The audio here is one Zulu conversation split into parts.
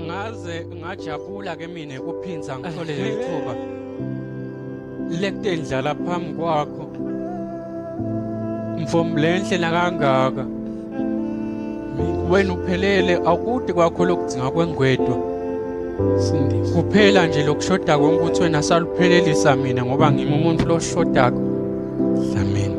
ngaze ngajabula ke mina kuphinza ngithole leli thuba lekutendlala phambi kwakho mfomlenhle nakangaka wena uphelele akude kwakho lokudzinga kwengwedwa kuphela nje lokushoda konke ukuthi wena saluphelelisa mina ngoba ngimi umuntu loshodako dlamini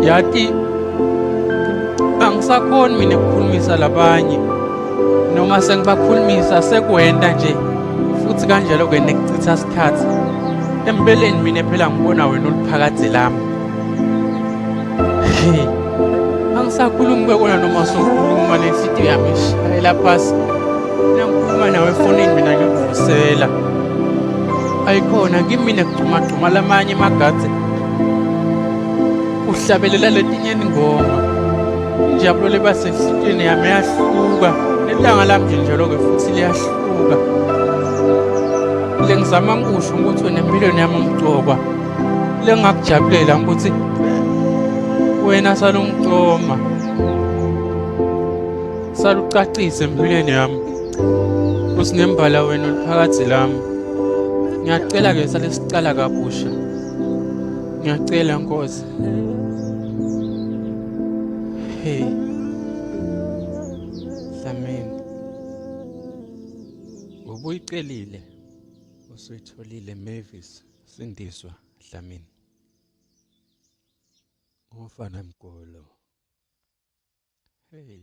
Yati angisakhoni mina ukukhulumisa labanye noma sengibakhulumisa sekwenta nje futhi kanjalo ke nekuchitha isikhathi empeleni mina phela ngibona wena uliphakade lami angisakhulumi kwekona noma sokhuluma lenhliziyo yami ishayela phasi mina ngikhuluma nawe efonini mina ngikuvusela ayikhona kimina kugxumagxuma lamanye amagathi uhlabelela letinye ingoma injabulo leba senhliziyweni yami yahluka nelanga lami nje njalo-ke futhi liyahluka lengizama ngikusho ukuthi wena empilweni yami ngigcokwa lengakujabulela ngikuthi wena salungicoma salucacise empilweni yami usinembala wena oluphakathi lami ngiyacela-ke sale sicala kabusha ngiyacela nkosi hey Dlamini ubuyicelile usuyitholile Mavis sindiswa Dlamini Ufana mgolo hey